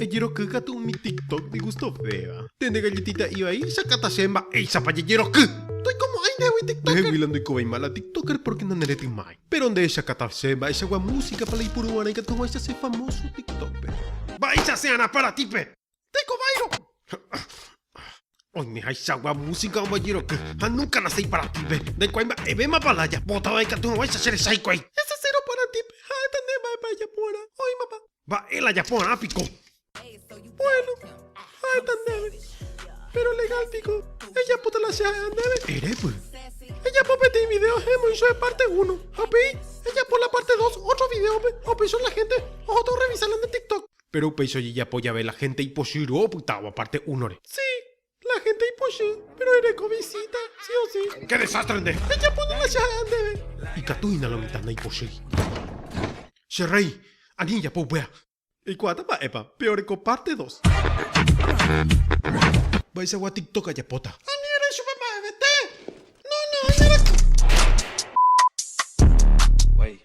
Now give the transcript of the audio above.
Ejeroky katu umi tiktok ndigustovéva. Nde ndegalletiita ivai, jakáta chéve mba'éichapa jejeroky. Ndoikomo'ãi ndehegui tiktoker. Ndeheguila ndoikovéima la tiktoker pórke naneretymái. Péro nde jakáta chéve mba'eichagua músikapa la ipuru g̃uarã ikatuguáicha che famóso tiktókpe. Mba'éicha che ára aparatípe. Ndaikovárõ. Oimehaichagua músika ombojeroky ha núka nasẽ iparatípe. Ndaikuaái mba'evémapa la ajapótava ikaturoguáicha che resa hikuái. Esa cero aparatípe ha'éta nde mba'épa ejaporã. Oĩmapa. Mba'e la japorã piko? Bueno, ha'éta ndéve. Péro legál piko ejapóta la che ha'éva ndéve? Erépy. Ejapo peteĩ vidéo he'ẽmoicho epárte uno, ha upéi ejapo la párte dos ótro vidéope ha upéicha la hénte ohóta orrevisárla nde TikTok. Péro upéicha ojejapo jave la hénte ipochyro opytávo párte únore. Si, La hénte ipochy, péro ereko visíta sí o sí. Ke desástre nde! Ejapo núna che ha'ã ndéve. Ikatu hína la mitã naipochýi. Che rréi, ani ejapo upéva. Eikuaáta mba'épa, peoreko párte dos. Mba'eichagua tiktok ajapóta. Ani erre chupe mba'evete. No, no, oñerakũ. Guáicha.